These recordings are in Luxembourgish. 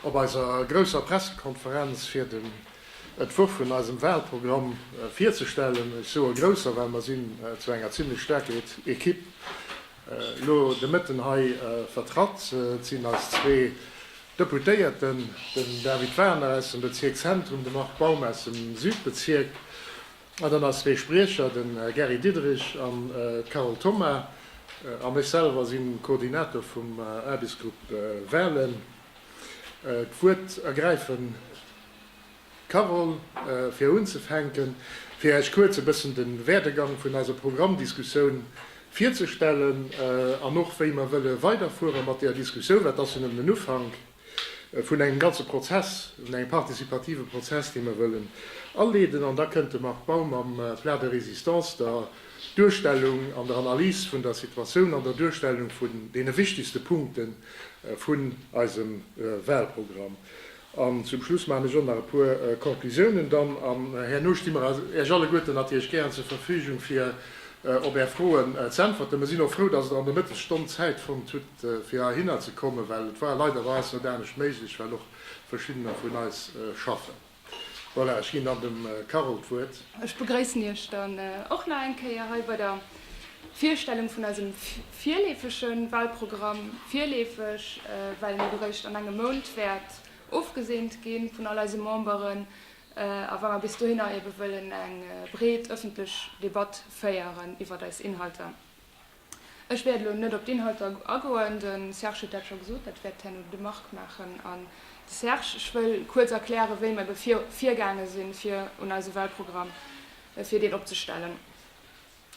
Op eiser grousser Pressekonferenz fir den Entwurf vun eisem Wahlprogramm virzestellen, ech soe grousser, well mer sinn zu enger zimlech staarker Equipe Elo de Mëtten hei vertratt sinn eis zwee Deputéierten, den David Warner aus dem Bezierk Zentrum, de Marc Baum aus dem Südbezierk, an dann eis zwee Spriecher, de Gary Diderich an d'Carole Thoma. An ech selwer si Koordinator vum Aarbechtsgrupp Walen. D'Wuert ergräifen. Carole, fir unzefänken, fir Äech kuerz e bëssen de Werdegang vun eiser Programmdiskussioun virzestellen an och wéi mer wëlle weiderfuere mat där Diskussioun. Dat ass jo nëmmen den Ufank vun engem ganze Prozess, vun engem participative Prozess, dee mer wëllen aleeden. An da kënnt de Marc Baum am Plat de résistance der Duerstellung an der Analys vun der Situatioun an der Duerstellung vun deene wichtigste Punkte vun eisem Wahlprogramm An zum Schluss maachen ech och nach e puer Konklusiounen dann. An herno sti mer Iech alleguerten natierlech gären zur Verfügung, fir op Är Froen z'äntwerten. Mer sinn och frou, dass Der an der Mëttesstonn Zäit fonnt hutt, fir heihinner ze kommen, well et war leiderweis net anescht méiglech, well och verschiddener vun eis schaffen. Voilà, ech ginn dann dem Carole d'Wuert. Ech begréissen Iech dann och nach eng Kéier hei bei der Virstellung vun eisem virleefege Wahlprogramm, virleefeg, well en eréischt an engem Mount wäert ofgeseent gi vun all eise Memberen, a well mer bis dohinner ebe wëllen eng breet ëffentlech Debatt féieren iwwert eis Inhalter. Ech wäert elo net op d'Inhalter agoen, de Serge huet dat scho gesot, dat wäert herno de Marc maachen an de Serge. Ech wëll kuerz erklären, wéi mer ebe virgaange si fir un eise Wahlprogramm, fir deen opzestellen.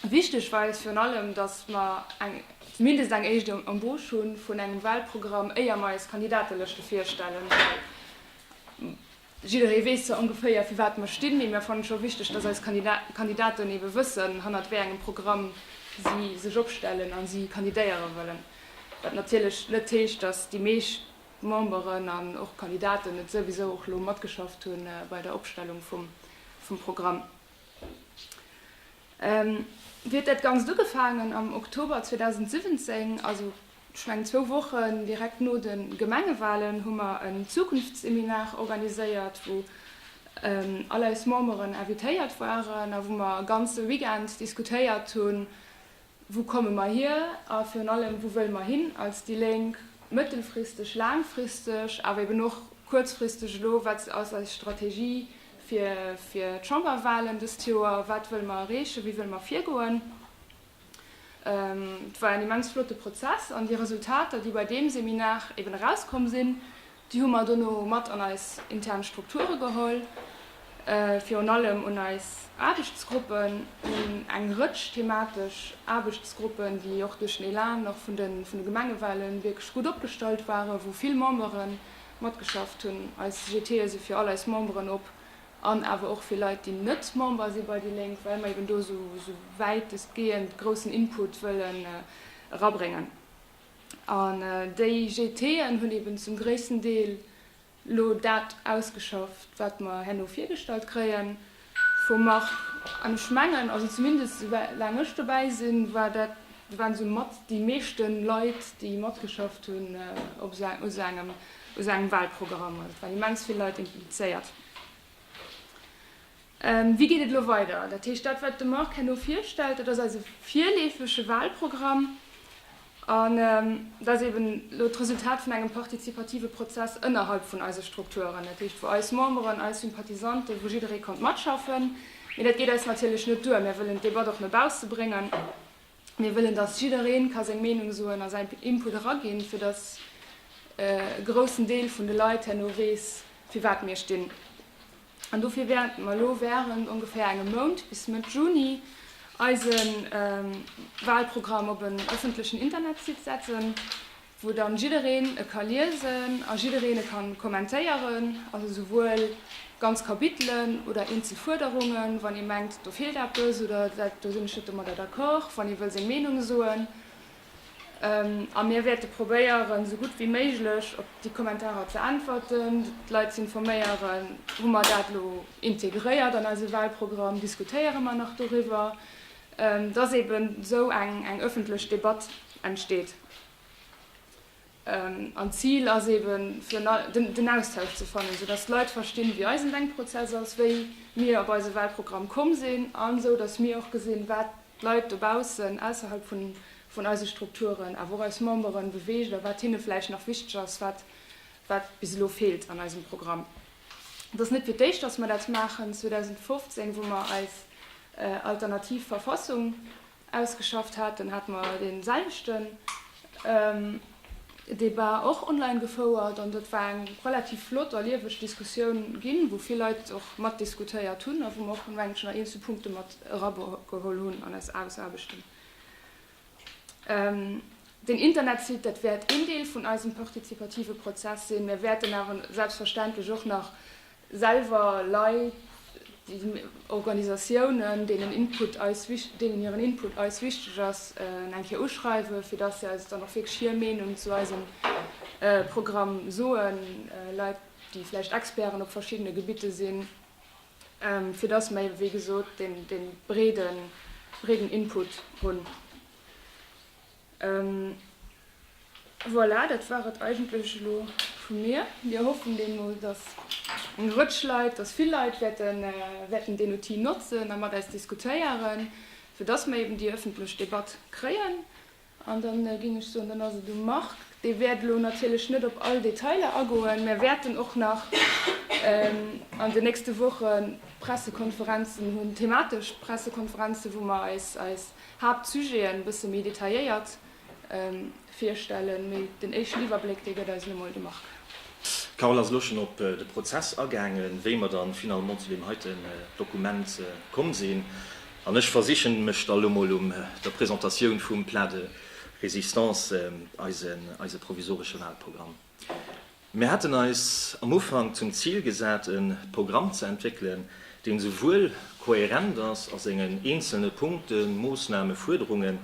Wichteg war eis virun allem, datt mer eng, zumindest eng éischt Embauche hu vun engem Wahlprogramm, éier mer eis Kandidatelëschte virstellen, well jidderee weess zwar ongeféier, fir wat mer stinn, mee mir fannen et scho wichteg, datt eis Kandidaten ebe wëssen, hannert wéi engem Programm si sech opstellen a si kandidéiere wëllen. Wat natierlech net heescht, datt déi meescht Memberen an och Kandidaten net souwisou och elo matgeschafft hu bei der Opstellung vum Programm. Wéi huet dat Ganzt ugefaangen? Am Oktober 2017, also scho eng zwou Wochen direkt no de Gemengewalen, hu mer en Zukunftsseminar organiséiert, wou all eis Memberen invitéiert waren a wou mer e ganze Weekend diskutéiert hunn, Wou komme mer hier a virun allem, wou wëlle mer hin als déi Lénk, mëttelfristeg, laangfristeg, awer eben och kuerzfristeg elo? Wat ass eis Strategie fir d'Chamberwahlen dëst Joer? Wat wëlle mer erreechen? Wéi wëlle mer virgoen? Et war en immens flotte Prozess an déi Resultater, déi bei deem Seminar eben erauskomm sinn, Déi hu mer dono mat an eis intern Strukture geholl, virun allem un eis Aarbechtsgruppen, un eng Rëtsch thematesch Aarbechtsgruppen, déi och duerch den Elan och vun de Gemengewalen wierklech gutt opgestallt waren, wou vill Membere matgeschafft hunn. Eis GTe si fir all eis Memberen op an awer och fir Leit, déi net Member si bei déi Lénk, well mer eben do esou wäitestgehend groussen Input wëllen erabréngen. An déi GTen hunn eben zum gréissten Deel elo dat ausgeschafft, wat mer herno virgestallt kréie vum Marc. An ech mengen, also zumindest esoulaang ech dobäi sinn, war dat, waren esou mat déi meeschte Leit, déi matgeschafft hunn op esou engem, u sou engem Wahlprogramm. Also et waren immens vill Leit implizéiert. Wéi geet et elo weider? Dat heescht, dat wat de Marc herno virstellt, dat ass eise virleefege Wahlprogramm an et ass eben elo d'Resultat vun engem partizipative Prozess ënnerhalb vun eise Strukturen, dat heescht wou eis Memberen, eis Sympathisante, wou jidderee konnt matschaffen. Mee dat geet eis natierlech net duer. Mir wëllen d'Debatt och no bausse bréngen. Mir wëllen, datt jidderee ka seng Meenung soen a säin Input eraginn, fir datt e groussen Deel vun de Leit herno weess, firwat mir stinn. An dofir wäerten mer elo während ongeféier engem Mount, bis Mëtt Juni, eise Wahlprogramm op en ëffentlechen Internetsite setzen, wou dann jiddereen e ka liesen a jiddereen e kann kommentéieren, also esouwuel ganz Kapitelen oder eenzel Fuerderungen, wann ee mengt, do feelt eppes oder dat do sinn ech net domadder d'accord, wann ee wëll seng Meenung soen. A mir wäerte probéieren, esou gutt wéi méiglech op déi Kommentarer ze äntwerten, d'Leit ze informéieren. Hu mer dat elo integréiert an eise Wahlprogramm? Diskutéiere mer nach doriwwer? Dass eeben esou eng ëffentlech Debatt entsteet. An d'Zil ass eben, fir den Austausch ze fannen, esou datt d'Leit verstinn, wéi eisen Denkprozess ass, wéi mir op eise Wahlprogramm komm sinn, an esou datt mir och gesinn, wat d'Leit dobaussen, ausserhalb vun eise Strukturen, awer och eis Memberen beweegt a wat hinne vläicht nach wichteg ass, wat bis elo feelt an eisem Programm. Et ass net fir d'éischt, datt mer dat maachen, 2015, wou mer eis alternativ Verfassung ausgeschafft haten, hate mer dee selwechten Debat och online gefouert an dat war eng relativ flott a lieweg Diskussioun ginn, wou vill Leit och matdiskutéiert hunn a wou mer och, mengen ech, nach eenzel Punkte mat erageholl hunn an eis Ausaarbechten. Den Internetsite, dat wäert een Deel vun eisem partizipative Prozess sinn. Mir wäerten awer selbstverständlech och nach selwer Leit, Organisatiounen, deenen Input eis wich-, deenen hiren Input eis wichteg ass, eng Kéier uschreiwen, fir dass se eis dann och wierklech hir Meenung zu eisem Programm soen, Leit, déi vläicht Experten op verschiddene Gebitte sinn, fir dass mer, wéi gesot, dee breeden Input hunn. Voilà, dat war et eigentlech elo vu mir. Mir hoffen deemno, dass eng Rëtsch Leit, dass vill Leit wäerten deen Outil notzen a mat eis diskutéieren, fir dass mer eeben déi ëffentlech Debatt kréien. An da géing ech soen, dann ass et um Marc. Dee wäert elo natierlech net op all Detailer agoen. Mir wäerten och nach an den nächste Woche Pressekonferenzen hunn, thematesch Pressekonferenzen, wou mer eis Haaptsujeten bësse méi detailléiert virstellen, mee den éischten Iwwerbléck, dee gëtt eis elo mol de Marc. D'Carole ass elo schonn op de Prozess agaangen, wéi mer dann finalement zu deem heiten Dokument komm sinn, an ech versichen mech da elo mol um der Presentatioun vum Plat de résistance, eise provisoresche Wahlprogramm. Mir haten eis am Ufank zum Zil gesat, e Programm ze entwéckelen, deen esouwuel kohärent ass a sengen eenzelne Punkten, Moossnamen, Fuerderungen,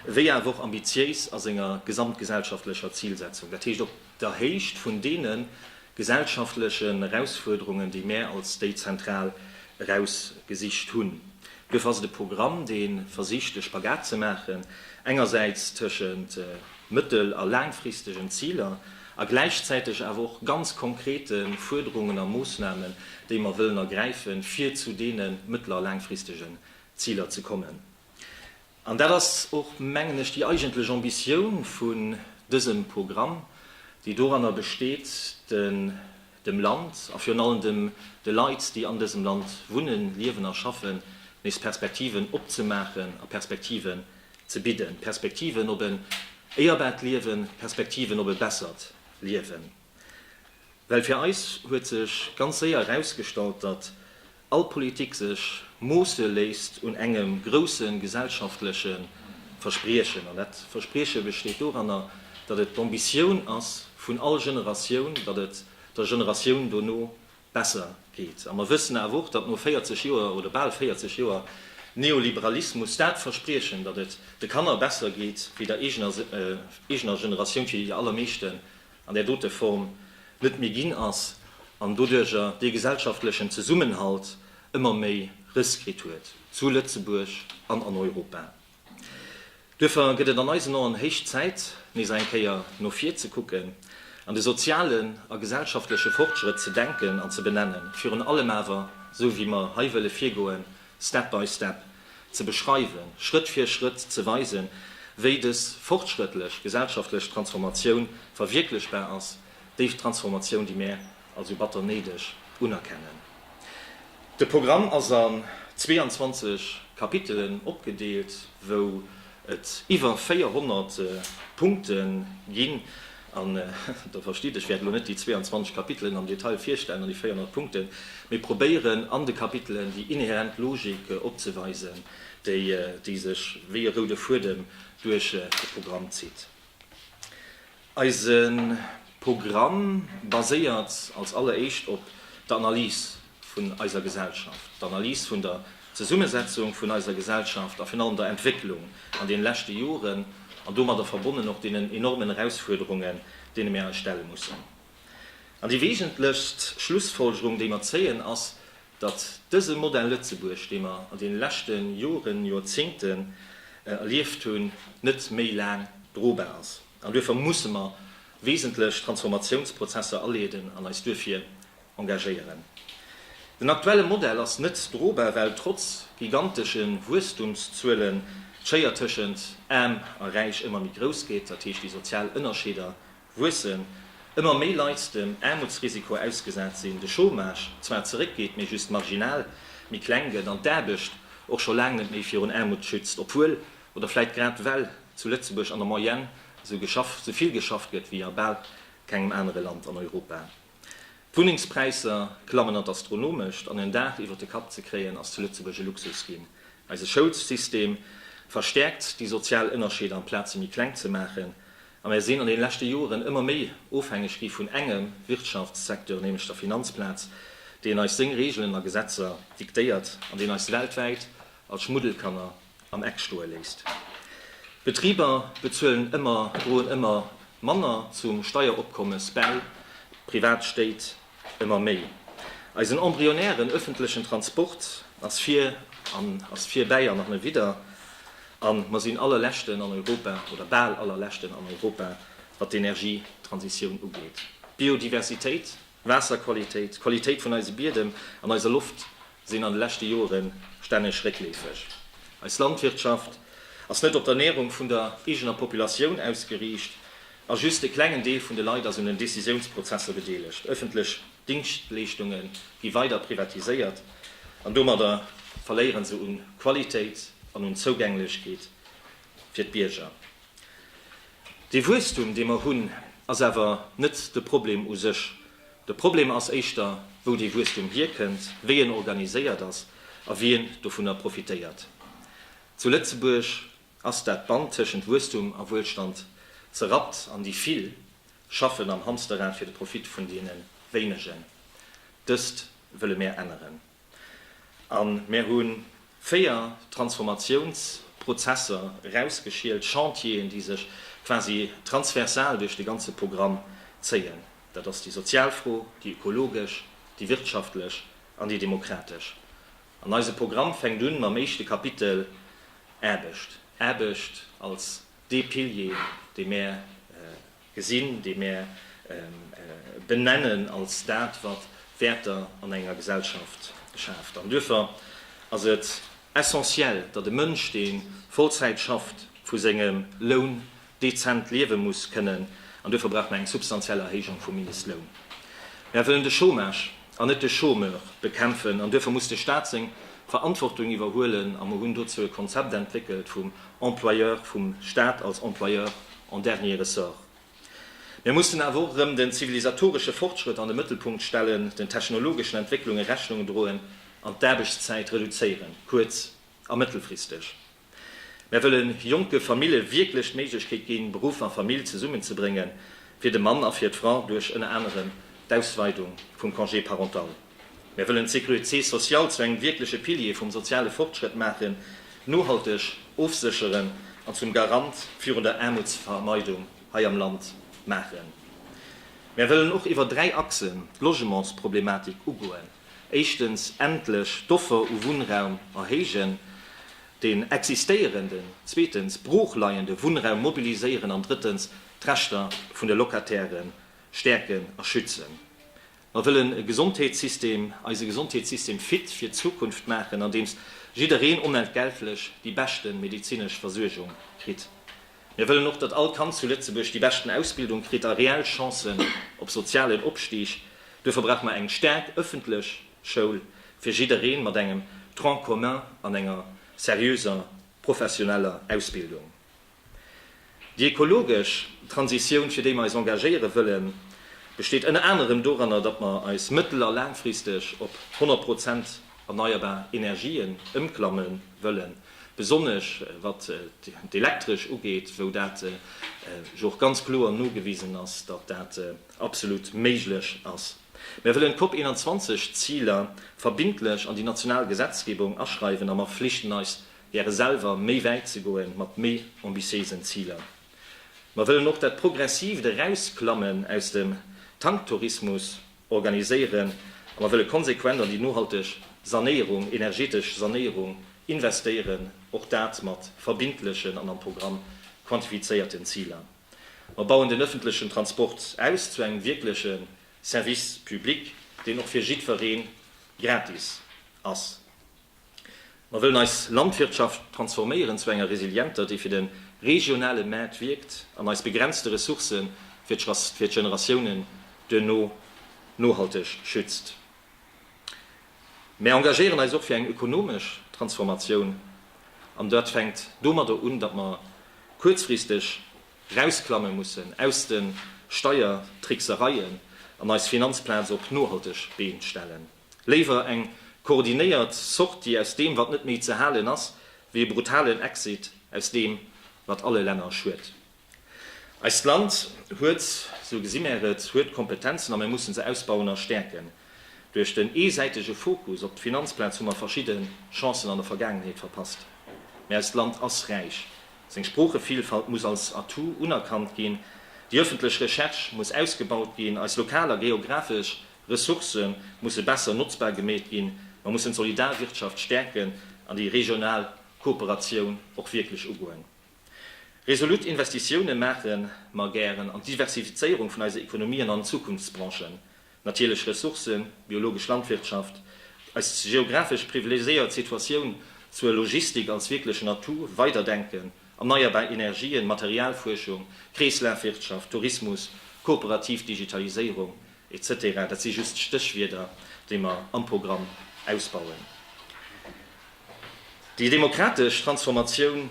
wéi awer och ambitiéis a senger gesamtgesellschaftlecher Zilsetzung, dat heescht op der Héicht vun deene gesellschaftlechen Erausfuerderungen, déi mär als déi zentral erausgesicht hunn. Duerfir ass et e Programm, dee versicht, e Spagat ze maachen, engersäits tëschent mëttel a laangfristegen Ziler a gläichzäiteg awer och ganz konkrete Fuerderungen a Moossnamen, déi mer wëllen ergräife fir zu deene mëttel a laangfristegen Ziler ze kommen. An dat ass och, mengen ech, déi eigentlech Ambitioun vun dësem Programm, déi doranner besteet, de dem Land a virun allem dem de Leit, déi an dësem Land wunnen, liewen a schaffen, nees Perspektiven opzemaachen a Perspektiven ze bidden. Perspektiven op en éierbart Liewen, Perspektiven op e bessert Liewen. Well fir eis huet sech ganz séier erausgestallt, datt all Politik sech moosse léisst un engem grousse gesellschaftleche Verspriechen. An dat Versprieche besteet doranner, datt et d'Ambitioun ass vun all Generatioun, datt et der Generatioun dono besser geet. A mer wëssen awer och, datt no 40 Joer oder bal 40 Joer Neoliberalismus dat Verspriechen, datt et de Kanner besser geet wéi der eegener Generatioun, fir déi allermeeschte an där dote Form net méi ginn ass an doduerjer dee gesellschaftlechen Zesummenhalt ëmmer méi Rëss kritt huet zu Lëtzebuerg an an Europa. Duerfir gëtt et an eisen Oen héich Zäit, nees eng Kéier no vir ze kucken, an de sozialen a gesellschaftleche Fortschrëtt ze denken an ze benennen, virun allem awer, esou wéi mer hei wëlle virgoen, Step by step ze beschreiwen, Schrëtt fir Schrëtt ze weisen, wéi dës fortschrëttlech gesellschaftlech Transformatioun verwierklechbar ass, déi Transformatioun, déi mär als sou batter néideg unerkennen. De Programm ass an 22 Kapitelen opgedeelt, wou et iwwer 400 Punkte ginn, an Der verstitt, ech wäert elo net déi 22 Kapitelen am Detail virstellen an déi 400 Punkten, mee probéieren an de Kapitelen déi inhärent Logik opzeweisen, déi sech wéi e roude Fuedem duerch de Programm zitt. Eise Programm baséiert als alleréischt op der Analys vun eiser Gesellschaft, d'Analys vun der Zesummesetzung vun eiser Gesellschaft a virun allem der Entwécklung an deene leschte Joren an domadder verbonnen och deenen enormen Erausfuerderungen, deene mir eis stelle mussen. An déi weesentlechst Schlussfolgerung, déi mer zéien, ass, datt dëse Modell Lëtzebuerg, dee mer an deene leschte Joren, Jorzéngten erlieft hunn, net méi laang drobar ass. An duerfir musse mer wesentlech Transformatiounsprozesser aleeden an eis duerfir engagéieren. Den aktuelle Modell ass net drobar, well trotz gigantesche Wuesstumszuelen d'Schéier tëschent Aarm a Räich ëmmer méi grouss gétt, dat heescht déi sozial Ënnerscheeder wuessen, ëmmer méi Leit dem Aarmutsrisiko ausgesat sinn, de Chômage zwar zeréckgeet, mee just marginal méi kleng gëtt an d'Aarbecht och scho laang net méi virun Aarmut schützt, obwuel, oder vläicht grad well, zu Lëtzebuerg an der Moyenne esou vill geschafft gëtt wéi a bal kengem anere Land an Europa. D'Wunnengspräisser klammen an d'Astronomescht an en Daach iwwert de Kapp ze kréien ass zu Lëtzebuerg e Luxus ginn. Eise Schoulssystem verstäerkt déi sozial Ënnerscheeder amplaz se méi kleng ze maachen a mär sinn an den leschte Joren ëmmer méi ofhängeg gi vun engem Wirtschaftssecteur, nämlech der Finanzplaz, deen eis seng Reegelen a Gesetzer diktéiert an deen eis weltwäit als Schmuddelkanner am Eck stoe léisst. D'Betriber bezuelen ëmmer, droen ëmmer manner zum Steieropkommes bäi, d'Privat Stéit ëmmer méi. Eisen embryonären öffentlechen Transport ass vir an ass vir, bäi an nach net widder, a mer sinn allerleschten an Europa, oder bal allerleschten an Europa, wat d'Energietransitioun ugeet. D'Biodiversitéit Waasserqualitéit, d'Qualitéit vun eise Biedem an eiser Loft sinn an de leschte Jore stänneg réckleefeg. Eis Landwirtschaft ass net op d'Ernärung vun der eegener Populatioun ausgeriicht a just e klengen Deel vun de Leit ass un den Decisiounsprozesser bedeelegt. Ëffentlech Dingschtleeschtunge gi weider privatiséiert an domadder verléiere se u Qualitéit an un Zougänglechkeet fir d'Bierger. Dee Wuesstum, dee mer hunn, ass awer net de Problem u sech. De Problem ass éischter, wou dee Wuesstum hierkënnt, wéi en organiséiert ass a wien dovunner profitéiert. Zu Lëtzebuerg ass dat Band tëschent Wuesstum a Wuelstand zerrappt an déi Vill schaffen am Hamsterrad fir de Profit vun deene Wéinegen. Dëst wëlle mär änneren. A mir hu véier Transformatiounsprozesser erausgeschielt, Chantieren, déi sech quasi transversal duerch de ganze Programm zéien. Dat ass déi sozial Fro, déi ökologesch, déi wirtschaftlech an déi demokratesch. An eise Programm fänkt un mam éischte Kapitel, Aarbecht. Aarbecht als dee Pilier, dee mir Gesinn, déi mär benennen als dat, wat Wäerter an enger Gesellschaft schaaft. An duerfir ass et essentiell, datt e Mënsch, dee Vollzäit schafft, vu sengem Loun dezent liewe muss kënnen. An duerfir brauch mer eng substantiell Erhéijung vum Mindestloun. Mär wëllen de Chômage an net de Chômeur bekämpfen an duerfir muss de Staat seng Verantwortung iwwerhuelen a mer hunn dozou e Konzept entwéckelt vum Employeur, vum Staat als Employeur en dernier ressort. Mir mussen awer och erëm den zivilisatoresche Fortschrëtt an de Mëttelpunkt stellen, den technologeschen Entwécklunge Rechnung droen an d'Aarbechtszäit reduzéieren, kuerz a mëttelfristeg. Mär wëllen jonke Famille wierklech d'Méiglechkeet ginn, Beruff a Famill zesummenzebréngen, fir de Mann a fir d'Fra duerch ënner anerem d'Ausweidung vum Congé parental. Mär wëllen d'Sécurité sociale zu engem wierkleche Pilier vum soziale Fortschrëtt maachen, nohalteg ofsécheren an zum Garant virun der Aarmutsvermeidung hei am Land maachen. Mär wëllen och iwwer dräi Achsen d'Logementsproblematik ugoen. Éischtens endlech d'Offer u Wunnraum erhéijen, deen existéierenden, zweetens broochleiende Wunnraum mobiliséieren an drëttens d'Rechter vun de Locataire stäerken a schützen. Mer wëllen e Gesondheetssystem, eise Gesondheetssystem fit fir d'Zukunft maachen, andeems jiddereen onentgeltlech déi beschte medezinesch Versuergung kritt. Mir wëllen och, datt all Kand zu Lëtzebuerg déi beschten Ausbildung kritt a reell Chancen op sozialen Opstig. Duerfir brauche mer eng staark ëffentlech Schoul fir jiddereen, mat engem Tronc commun an enger seriöser professioneller Ausbildung. Déi ökologesch Transitioun, fir déi mer eis engagéiere wëllen, besteet ënner anerem doranner, datt mer eis mëttel a laangfristeg op 100 Prozent erneierbar Energien ëmklamme wëllen, besonnesch wat d'Elektresch ugeet, wou dat jo och ganz kloer nogewisen ass, datt dat absolut méiglech ass. Mer wëllen d'COP 21 Ziler verbindlech an déi national Gesetzgebung aschreiwen a mer flichten eis gäre selwer méi wäit ze goe mat méi ambitiéisen Ziler. Mer wëllen och dat progressivt Erausklammen aus dem Tanktourismus organiséieren a mer wëlle konsequent an déi nohalteg Sanéierung, energetesch Sanéierung investéieren, och dat mat verbindlechen an am Programm quantifizéierten Ziler. Mer bauen den öffentlechen Transport aus zu engem wierkleche Service public, deen och fir jiddweree gratis ass. Mer wëllen eis Landwirtschaft transforméieren zu enger resilienter, déi fir de regionale Maart wierkt an eis begrenzte Ressourcë fir d'Generatiounen duerno nohalteg schützt. Mer engagéieren eis och fir eng ökonomesch Transformatioun, an dat fänkt domadder un, datt mer kuerzfristeg rausklamme mussen aus de Steiertricksereien an eis Finanzplaz op nohalteg Been stellen. Léiwer eng koordinéiert Sortie aus deem, wat net méi ze halen ass, wéi e brutalen Exit aus deem, wat alle Länner schued. Eist Land huet, sou gesi mär et, huet Kompetenzen a mär mussen se ausbauen a stäerken. Duerch den eesäitege Fokus op d'Finanzplaz hu mer verschidde Chancen an der Vergaangenheet verpasst. Mä eist Land ass räich. Seng Sproochevielfalt muss als Atout unerkannt ginn. Déi öffentlech Recherche muss ausgebaut ginn. Eis lokal a geographesch Ressourcë musse besser notzbar gemeet ginn, mer mussen d'Solidarwirtschaft stäerken an déi regional Kooperatioun och wierklech ugoen. Resolut Investitioune maache mer gären an d'Diversifizéierung vun eise Ekonomien an Zukunftsbranchen, natierlech Ressourcë, biologesch Landwirtschaft, eis geographesch privilegiséiert Situatioun zur Logistik als wierklechen Atout weider denken, erneierbar Energien, Materialfuerschung, Kreeslafwirtschaft, Tourismus, kooperativ Digitaliséierung, Etc. Dat si just Stéchwierder, déi mer am Programm ausbauen. Déi demokratesch Transformatioun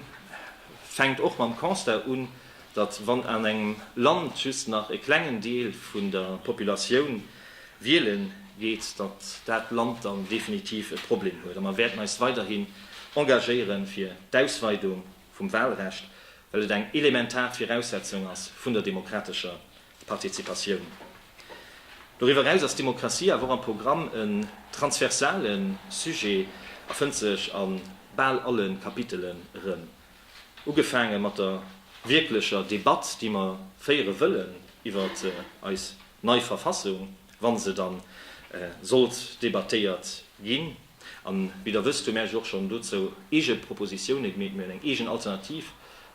fänkt och mam Constat un, datt wann an engem Land just nach e klengen Deel vun der Populatioun wiele geet, datt dat Land dann definitiv e Problem huet. A mer wäerten eis weiderhin engagéiere fir d'Ausweidung vum Wahlrecht, well et eng elementar Viraussetzung ass vun der demokratescher Partizipatioun. Doriwwer eraus ass d'Demokratie awer och am Programm en transversale Sujet a fënnt sech a bal alle Kapitelen erëm. Ugefaange mat der wierklecher Debatt, déi mer féiere wëllen iwwer eis nei Verfassung, wa se da sollt debattéiert ginn. A wéi Der wësst, hu mär eis och schonn dozou eege Propositioune gemeet. Mir hunn eng eegen alternativ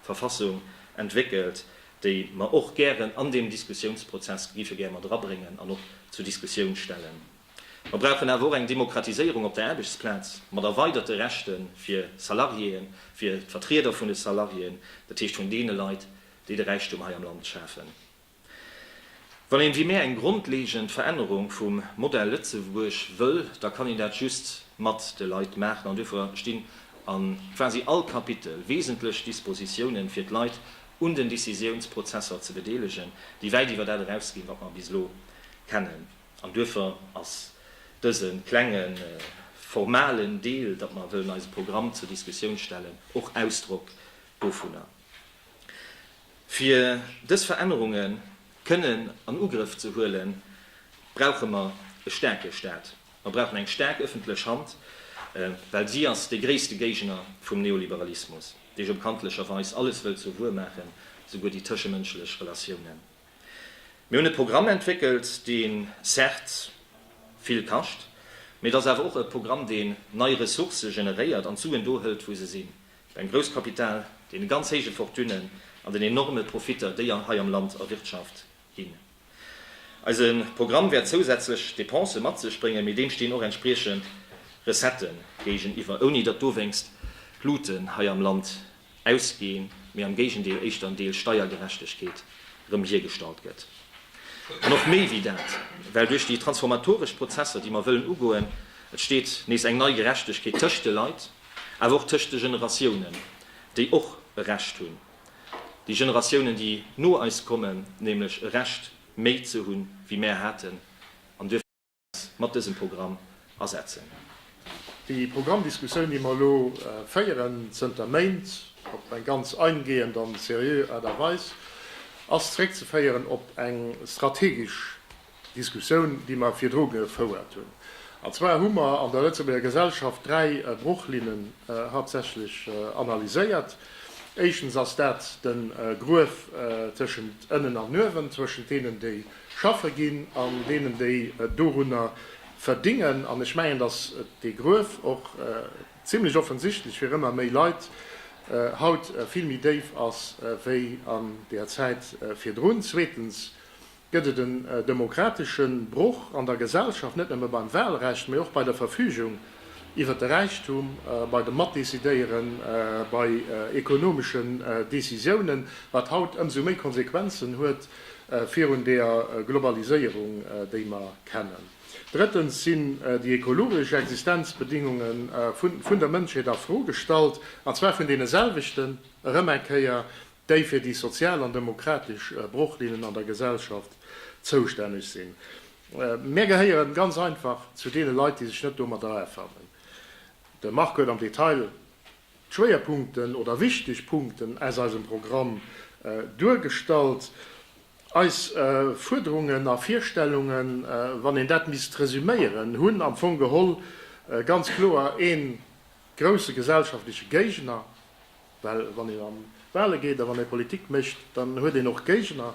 Verfassung entwéckelt, déi mer och gären an deem Diskussiounsprozess géife gär mat erabréngen an och zur Diskussioun stellen. Mer brauchen awer och eng Demokratiséierung op der Aarbechtsplaz, mat erweiderte Rechte fir Salariéen, fir d'Vertrieder vun de Salariéen, dat heescht vun deene Leit, déi de Räichtum hei am Land schafen. Wann een wéi mär eng grondlegend Verännerung vum Modell Lëtzebuerg wëll, da kann een dat just mat de Leit maachen. An duerfir stinn a quasi all Kapitel wesentlech Dispositiounen fir d'Leit un den Décisiounsprozesser ze bedeelegen, déi wäit iwwer dat erausginn, wat mer bis elo kennen. An duerfir ass dëse klenge formalen Deel, datt mer wëllen eise Programm zur Diskussioun stellen, och Ausdrock dovunner. Fir dës Verännerunge kënnen an Ugrëff ze huelen, brauche mer e staarke Stat. Mer brauchen eng staark ëffentlech Hand, well si ass dee gréisste Géigner vum Neoliberalismus, dee jo bekanntlecherweis alles wëllt zur Wuer maachen, esouguer déi tëschemënschlech Relatiounen. Mir hunn e Programm entwéckelt, dee certes vill kascht, mee et ass awer och e Programm, deen nei Ressourcë generéiert an d'Suen do hëlt, wou se sinn, beim Grousskapital, deene ganz héije Fortunen an den enorme Profitter, déi hei am Land erwirtschaft ginn. Eise Programm wäert zousätzlech Depensë mat sech bréngen, mee deem stinn och entspriechend Recettë géigeniwwer, ouni datt dowéinst d'Luuten hei am Land ausginn, mee am Géigendeel éischter en Deel Steiergerechtegkeet erëm hiergestallt gëtt. An och méi wéi dat, well duerch déi transformatoresch Prozesser, déi mer wëllen ugoen, entsteet nees eng nei Gerechtegkeet tëscht de Leit, awer och tëscht de Generatiounen, déi och e Recht hunn, Déi Generatiounen, déi no eis kommen, nämlech e Recht méi ze hunn, wéi mär haten, an duerfir mussen mär eis mat dësem Programm asetzen. Déi Programmdiskussioun, déi mer elo féieren, zënter Méint, op eng ganz eingehend an seriö Aart a Weis, ass zréckzeféieren op eng strategesch, Diskussioun, déi mer virdru gefouert hunn. An zwar hu mer an der Lëtzebuerger Gesellschaft dräi Bruchlinnen haaptsächlech analyséiert. Éischtens ass dat de Gruef tëschent ënnen an uewen, tëschent deenen, déi schaffe ginn, an deenen, déi dorunner verdingen. An ech mengen, dass dee Gruef och zimlech offensichtlech fir ëmmer méi Leit haut vill méi déif ass wéi an där Zäit virdrun. Zweetens gëtt et en demokratesche Broch an der Gesellschaft, net nëmme beim Wahlrecht, mee och bei der Verfügung iwwert de Räichtum, bei dem Matdecidéieren, bei ekonomeschen Decisiounen, wat haut ëmsou méi Konsequenzen huet virun der Globaliséierung, déi mer kennen. Drëttens sinn déi ekologesch Existenzbedingunge vun der Mënschheet a Fro gestallt, an zwar vun deene selwechten, erëm eng Kéier, déi fir déi sozial an demokratesch Brochlinnen an der Gesellschaft zoustänneg sinn. Mär gehéieren ganz einfach zu deene Leit, déi sech net domat erafannen. De Marc huet am Detail d'Schwéierpunkten oder wichteg Punkten aus eisem Programm duergestallt. Eis Fuerderungen a Virstellungen, wann een dat misst resüméieren, hunn am Fong geholl ganz kloer ee grousse gesellschaftleche Géigner, Well wann een an d'Wahle geet a wann ee Politik mécht, dann huet een och Géigner.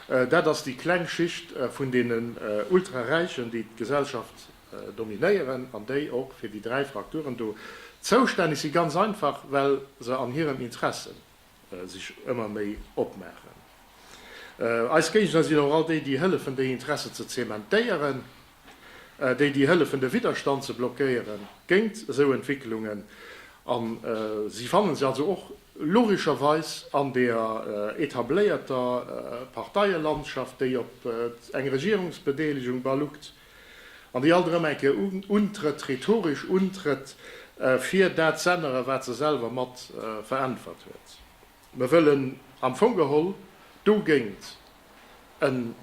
Dat ass déi kleng Schicht vun deenen Ultraräichen, déi d'Gesellschaft dominéieren an déi och fir déi dräi Frakturen do zoustänneg sinn, ganz einfach well se an hirem Interesse sech ëmmer méi opmaachen. Eis Géigner sinn och all déi, déi hëllefen, déi Interesse ze zementéieren. déi déi hëllefen de Widderstand ze blockéiere géint esou Entwécklungen, a si fanne se also och logescherweis an der etabléierter Parteielandschaft, déi op eng Regierungsbedeelegung baluckt an déi alt erëm eng Kéier untrëtt, rhetoresch untrëtt, fir dat z'ännere wat se selwer mat veräntwert huet. Mir wëllen am Fong geholl dogéint en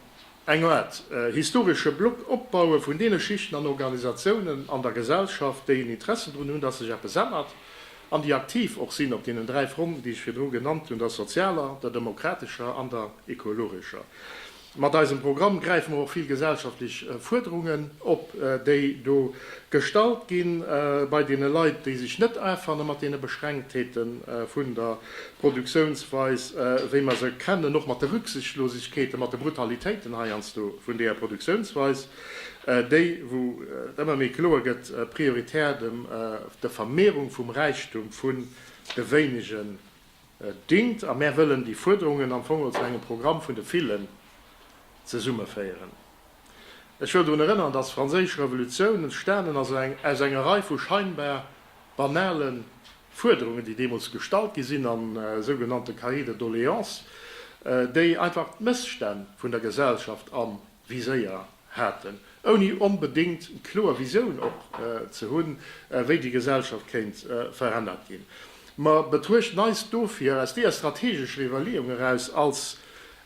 eng Aart historesche Block opbaue vun deene Schichten an Organisatiounen an der Gesellschaft, déi en Interessen drun hunn, dass sech eppes ännert an déi aktiv och sinn op deenen dräi Fronten, déi ech virdru genannt hunn, der sozialer, der demokratescher an der ekologescher. Mat eisem Programm gräife mer och vill gesellschaftlech Fuerderungen op, déi do gestallt gi bei deene Leit, déi sech net afanne mat deene Beschränktheete vun der. Produktiounsweis, wéi mer se kennen, och mat de Rücksichtslosegkeeten, mat de Brutalitéiten heiansdo vun deeër Produktiounsweis, déi, wou et ëmmer méi kloer gëtt, prioritär dem der Vermehrung vum Räichtum vun de Wéinegen dingt. A mär wëllen déi Fuerderungen am Fong als engem Programm vun de Villen zesummeféieren. Ech wëll drun erënnern, dass d'Franséisch Revolutioun entstanen ass aus enger Rei vu scheinbar banalen Fuerderungen, déi deemools gestallt gi sinn an sougenannte Cahiers de doléances, déi einfach d'Mësstänn vun der Gesellschaft am Viséier haten, ouni onbedéngt kloer Visioun och ze hunn, wéi déi Gesellschaft kéint verännert ginn. Mer betruechten eis dofir aus deeër strategescher Iwwerleeung eraus als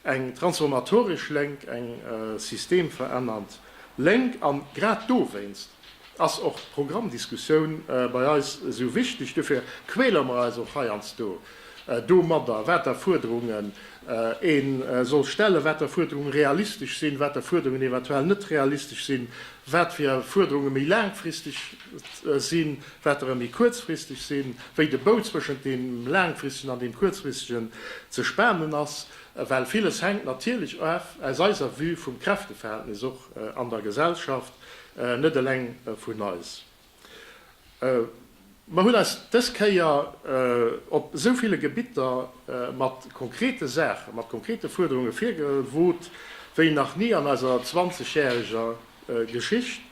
eng transformatoresch Lénk, eng systemverännernd Lénk, an grad dowéinst, ass och d'Programmdiskussioun bei eis esou wichteg. Dofir quäler mer eis och heiansdo domadder, wat der Fuerderunge ee soll stellen, wat der Fuerderunge realistesch sinn, wat der Fuerderungen eventuell net realistesch sinn, wat fir Fuerderunge méi laangfristeg sinn, wat derer méi kuerzfristeg sinn, wéi de Bou zwëschent deem laangfristegen an deem kuerzfristegen ze spanen ass. Well villes hänkt natierlech of aus eiser Vue vum Kräfteverhältnis och an der Gesellschaft. Net eleng vun eis. Mer hunn eis dës Kéier op esou ville Gebitter mat konkrete Saachen, mat konkrete Fuerderunge virgewot wéi nach ni an eiser zwanzegjäreger Geschicht.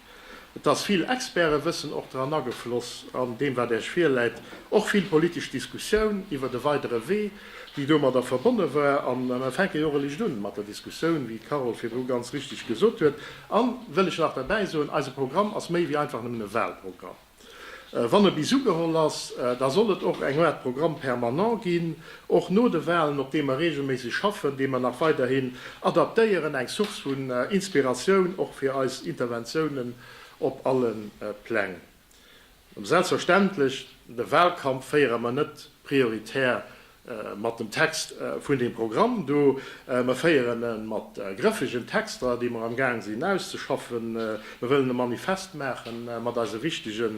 Et ass vill Expertewëssen och dran agefloss an deem, wat Äech virläit, och vill politesch Diskussioun iwwert e weidere Wee. déi domadder verbonne war, a mer fänke jo och e licht un mat der Diskussioun, wéi d'Carole virdru ganz richtig gesot huet, a wëll ech nach derbäi soen, eise Programm ass méi wéi einfach nëmmen e Wahlprogramm. Wann e bis ugeholl ass, da soll et och eng Aart Programme permanent ginn, och no de Wahlen, op deem mer reegelméisseg schaffen, dee mer nach weiderhin adaptéieren, eng Source vun Inspiratioun och fir eis Interventiounen op alle Pläng. Selbstverständlech, de Wahlkampf féiere mer net prioritär mat dem Text vun deem Programm do. Mer féieren e mat grëffegen Texter, déi mer amgaang sinn auszeschaffen. Mer wëllen e Manifest maache mat eise wichtege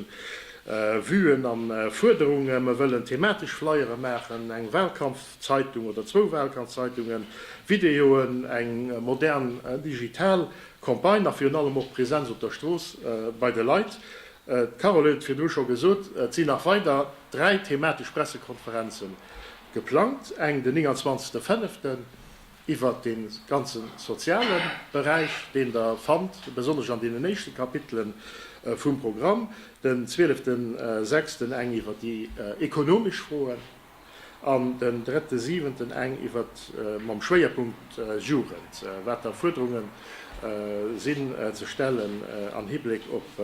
Vuen a Fuerderungen. Mer wëllen thematesch Flyere maachen, eng Wahlkampfzeitung oder zwou Wahlkampfzeitungen, Videoen, eng modern digital Campagne a virun allem och Präsenz op der Strooss bei de Leit. D'Carole huet et virdru scho gesot, et sinn nach weider dräi thematesch Pressekonferenze geplangt, eng den 29. Fënneften iwwert de ganze soziale Beräich, deen Der fannt besonnesch an deenen éischte Kapitele vum Programm, den 12. Sechsten eng iwwert déi ekonomesch Froen. an den drëtte siwenten eng iwwert, mam Schwéierpunkt Jugend, water Fuerderunge sinn ze stellen am Hibleck op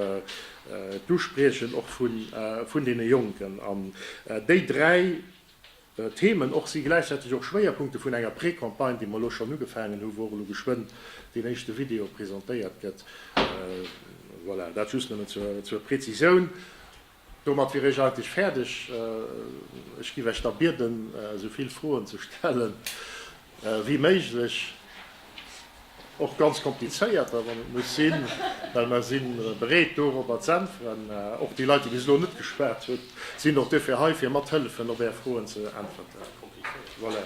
d'Uspriechen och vun deene Jonken. An déi dräi Themen och si gläichzäiteg och Schwéierpunkte vun enger Precampagne, déi mer elo schonn ugefaangen hu wou och elo geschwënn deen éischte Video presentéiert gëtt. Voilà, dat just nëmmen zur Prezisioun. Domat wier ech eigentlech fäerdeg. Ech giff Iech da bieden, esou vill Froen ze stellen wéi méiglech, och ganz komplizéierter, wann et muss sinn, well mer si bereet, dorobber z'äntweren. Och déi Leit, déi bis elo net geschwat hunn, sinn och dofir hei, fir mathëllefen, op Är Froen ze äntwerten. Voilà.